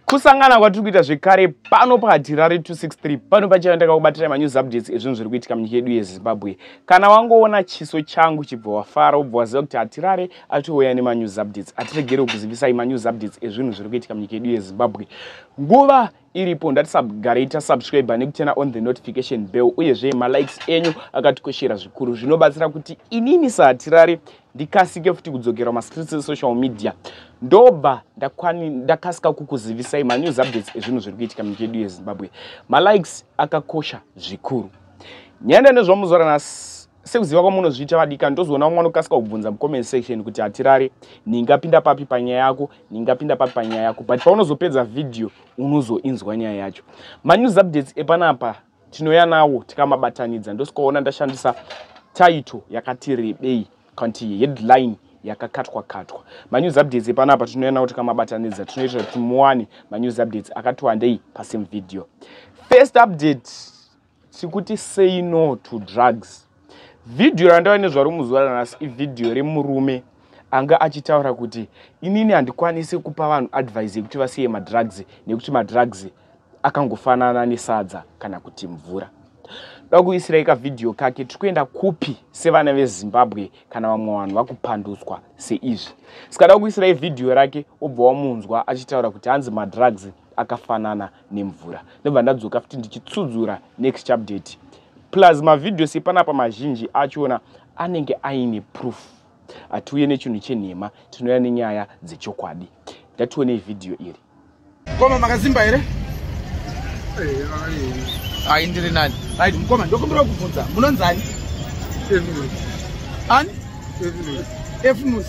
kusangana kwatiri kuita zvekare pano pahatirari 263 pano pachaiva ndakakubatira manews updates ezvinhu zviri kuitika munyika yedu yezimbabwe kana wangoona chiso changu chibva wafara wobva waziva kuti hatirare atouya nemanews updates atiregere kukuzivisai manews updates ezvinhu zviri kuitika munyika yedu yezimbabwe nguva iripo ndatisabgarei tasubscribe nekutena on the notification bell uyezve malikes enyu akatikoshera zvikuru zvinobatsira kuti inini sahatirari ndikasike futi kudzokera mastreets esocial media ndobva ndakasika kukuzivisai manews updates ezvinhu zviri kuitika munyika yedu yezimbabwe malikes akakosha zvikuru nyanda nezvamuzora nhasi sekuziva kwamunozviita vadika ndozoona umwe anokasika kubvunza mucomment section kuti hatirare ndingapinda papi panyaya yako ndingapinda papi panyaya yako but paunozopedza vhidhiyo unozoinzwa nyaya yacho manews updates epanapa tinouya nawo tikamabatanidza ndosikaona ndashandisa title yakati rebei kanti headline yakakatwa katwa manews updates epanapa tinouya nawo tikamabatanidza tinoita kuti muwane manews updates akati wandei pasame video first update tikuti say no to drugs vhidhiyo randava nezvaro muzuva ranhasi ivhidhiyo remurume anga achitaura kuti inini handikwanisi kupa vanhu advise yekuti vasiye madrugs nekuti madrugs akangofanana nesadza kana kuti mvura da kuisirai kavhidhiyo kake tiri kuenda kupi sevana vezimbabwe kana vamwe vanhu vakupandutswa seizvi saka da kuisirai vhidhiyo rake obva wamunzwa achitaura kuti hanzi madrugs akafanana nemvura ndobva ndadzoka futi ndichitsudzura next update plus mavideos epanapa mazhinji achona anenge aine proof hatiuye nechinhu chenhema tinouya nenyaya dzechokwadi ndationei vhidhiyo iri koma makazimba here ai ndiri nani right mukoma ndokumbira kubvunza munonzani ani efnus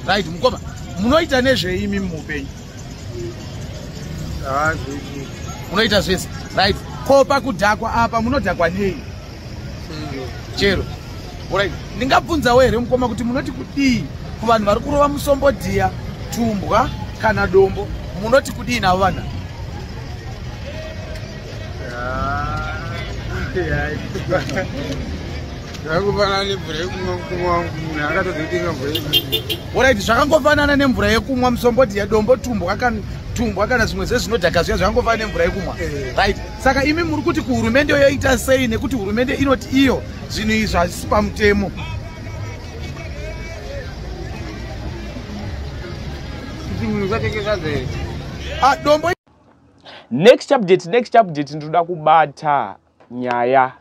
right mukoma munoita nezveimi muupenyu munoita zvese right ko pakudhakwa apa munodhakwa nei chero orit ndingabvunzawo here mukoma kuti munoti kudii kuvanhu vari kurova musombo dhiya tumbwa kana dombo munoti kudii navo vana ah, orit zvakangofanana nemvura yekumwa musomboti yedombo tumbwa tumbwa kana zvimwe zvezvinodhaka zviya zvakangofanana nemvura yekumwa eh. right saka imi muri kuti kuhurumende yoita sei nekuti hurumende inoti iyo zvinhu izvi hazvisi pamutemo ah, dombo next update next update ndinoda kubata nyaya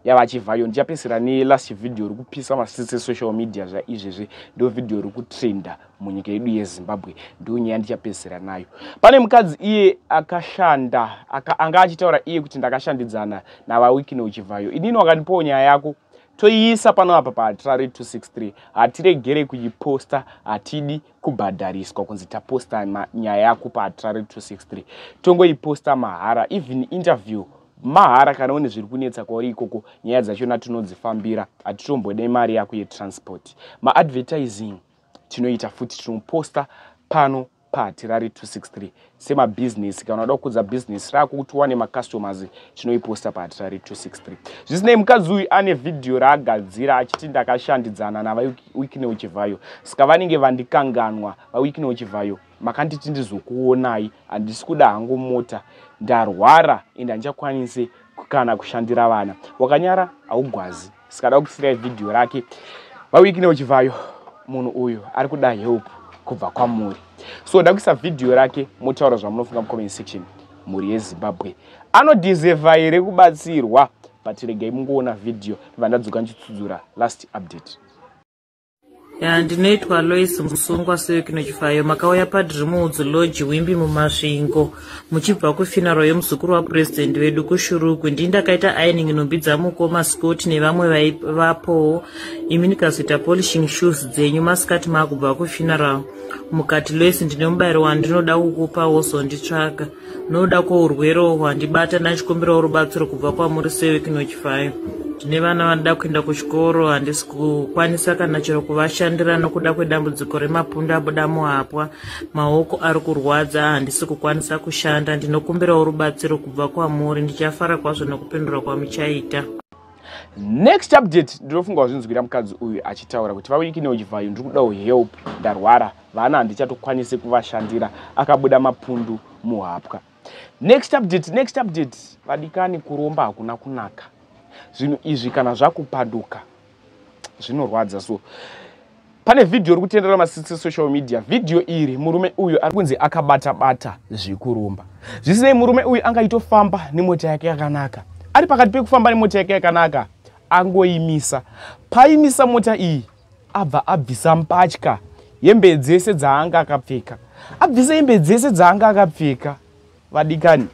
yavachivhayo ndichapesera nelast video iri kupisa masisi esocial media zvaizvezvi ndo video iri kutrenda munyika yedu yezimbabwe ndo nyaya ndichapesera nayo pane mukadzi iye akashanda aka, anga achitaura iye kuti ndakashandidzana navawikine uchivhayo inini wakandipawo nyaya yako toiisa pano apa paatirari 263 hatiregere kuiposta hatidi kubhadhariswa kunzi taposta nyaya yakupa atrare 263 tongoiposta mahara even interview mahara kana une zviri kunetsa kwauri ikoko nyaya dzachona tinodzifambira hatitombode mari yako yetransport maadvertising tinoita futi tinoposta pano paatirare 263 semabhizinesi kana unoda kukudza bhizinesi rako kuti uwane macustomers tinoiposta pahatira re263 zvisinei mukadzi uyu ane vhidhiyo raagadzira achiti ndakashandidzana navawikineo chivhayo saka vanenge vandikanganwa vawikineo chivhayo makanditi ndizokuonai handisi kuda hangu mota ndarwara and handichakwanise kana kushandira vana wakanyara haugwazi sikada kusirai vhidhiyo rake vawiki neuchivayo munhu uyu ari kuda help kubva kwamuri so da kuisa vhidhiyo rake motaura zvamunofunga mucomment section mhuri yezimbabwe anodiseva here kubatsirwa but regai mungoona vhidhiyo ndibva ndadzoka ndichitsudzura last update ya ndinoitwa lois musungwa sewekino chifayo makauya padrimuudzi lodge wimbi mumasvingo muchibva kufinaro yemuzukuru wapurezidendi vedu kushuruku ndii ndakaita aining nhumbi dzamukoma scott nevamwe vaivapowo imi ndikazoita polishing shoes dzenyu masikati maakubva kufinaro mukati lois ndine mubayiro wandinoda kukupa wozonditsvaga noda kwourwere uhwo handibata ndachikumbirawo rubatsiro kubva kwamuri sewekinochifai tine vana vanoda kuenda kuchikoro handisi kukwanisa kana chero kuvashandira nokuda kwedambudziko remapundu abuda muhapwa maoko ari kurwadza handisi kukwanisa kushanda ndinokumbirawo rubatsiro kubva kwamuri ndichafara kwazvo nokupindura kwamuchaita next update ndinofunga wazvinzwira mukadzi uyu achitaura kuti vawikine uchivayo ndiri kudawo help ndarwara vana handichatokwanise kuvashandira akabuda mapundu muhapwa next update next update vadikani kuromba hakuna kunaka zvinhu izvi kana zvakupaduka zvinorwadza so pane vhidhiyo ri kutendera masitsi social media vhidhiyo iri murume uyu ari kunzi akabata bata zvekuromba zvisinei murume uyu anga itofamba nemota yake yakanaka ari pakati pekufamba nemota yake yakanaka angoimisa paimisa mota iyi abva abvisa mbatya hembe dzese dzaanga akapfeka abvisa hembe dzese dzaanga akapfeka vadikani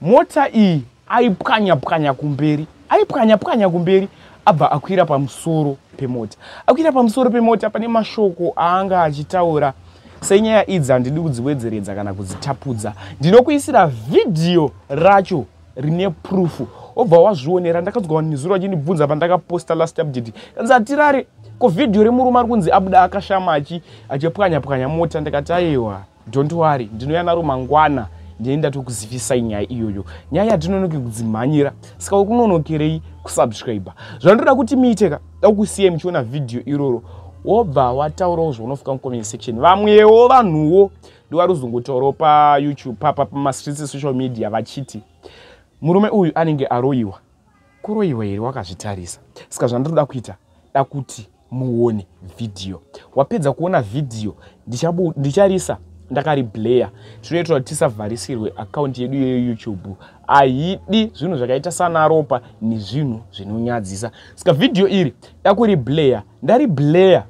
mota iyi aipwanya pwanya kumberi aipwanya pwanya kumberi abva akwira pamusoro pemota akwira pamusoro pemota pane mashoko aanga achitaura senyaya idzi handidi kudziwedzeredza kana kudzitapudza ndinokuisira vhidhiyo racho rine proof obva wazvionera ndakadzwa vanhu nezuro vachinibvunza pandakaposta last update kanzi hatirare ko vhidhiyo remurume ari kunzi abuda akashama achi achipwanya pwanya mota ndikati aiwa don't worry ndinouya naro mangwana ndine ndatokuzivisai nyaya iyoyo nyaya yatinonoke kudzimhanyira saka uri kunonokerei kusubscribe zvandoda kuti miiteka dakusiya muchiona vhidhiyo iroro wobva wataurawo zvaunofika mucomment section vamwewo vanhuwo ndovaruzungutoro payoutube papa pamastreets esocial media vachiti murume uyu anenge aroyiwa kuroyiwa here wakazvitarisa saka zvandiroda kuita da kuti muone vhidhiyo wapedza kuona vhidhiyo ndicharisa ndakaribleya tinoitira kuti tisavharisirwe akaunti yedu yeyoutube ahidi zvinhu zvakaita sanaropa nezvinhu zvinonyadzisa saka vhidhiyo iri dakuribleya ndaribleya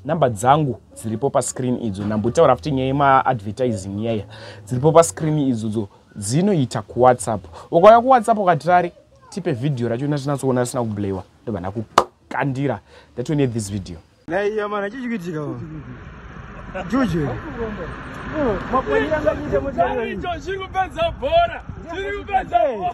number dzangu dziripo pascreen idzo nambotaura futi nyaya yemaadvertising yaya dziripo pascreen idzodzo dzinoita kuwhatsapp ukauya kuwhatsapp ukatirari tipe vhidhiyo racho natinatsoona risina kublayiwa ndobva ndakukandira that we need this video naiyamana chichikuitika juje mapoiangaite mutaicho chiri kupedza bhora chiri kupedza bhora